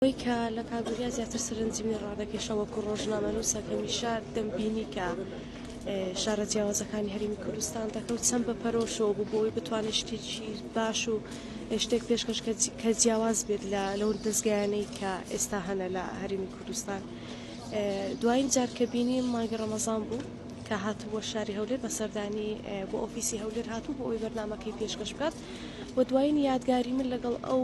ئەوەی کە لە کاک وریا زیاتر سەرنجمی ڕادەکێشە وەکو ڕۆژنامەنووسە هەمیشە دەمبینی کە شارە جیاوازەکانی هەرمی کوردستان دەکەوت چەند بە پەرۆشەوە بوو بۆی بتوانێت شتێکی باش و شتێک پێشکەش کە جیاواز بێت لە لەو دەستگایانەی کە ئێستا هەنە لە هەرمی کوردستان دوایین جارکەبینی مانگی ڕەمەزان بوو کە هاتبووە شاری هەولێر بە سەردانی بۆ ئۆفیسی هەولێر هاتوو بۆ ئەوی بەرنمەکەی پێشکەش بکات و دوایین یادگاری من لەگەڵ ئەو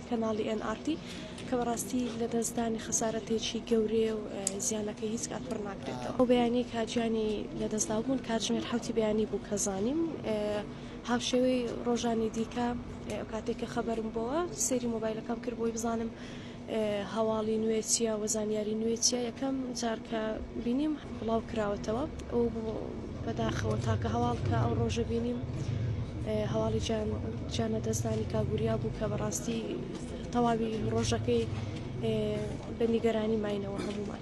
کەناڵی ئێن ئاڕ تی کە بەڕاستی لەدەستدانی خەسارەتێکی گەورەیە و زیانەکەی هیچ کات پڕ ناکرێتەوە. ئەو بەیانیەی کە گیانی لەدەستداو بوون کاتژمێر حەوتی بەیانی بوو کە زانیم. هاوشێوەی ڕۆژانی دیکە کاتێک کە خەبەرم بۆوە سەیری مۆبایلەکەم کرد بۆی بزانم هەواڵی نوێ چیە و زانیاری نوێ چیە یەکەم جار کە بینیم بڵاو کراوەتەوە ئەو بەداخەوە تاکە هەواڵ کە ئەو ڕۆژە بینیم هەواڵی جانە دەستانی کاگوریا بوو کە بەڕاستی تەواوی ڕۆژەکەی بە نیگەرانی ماینەوە هەمومان.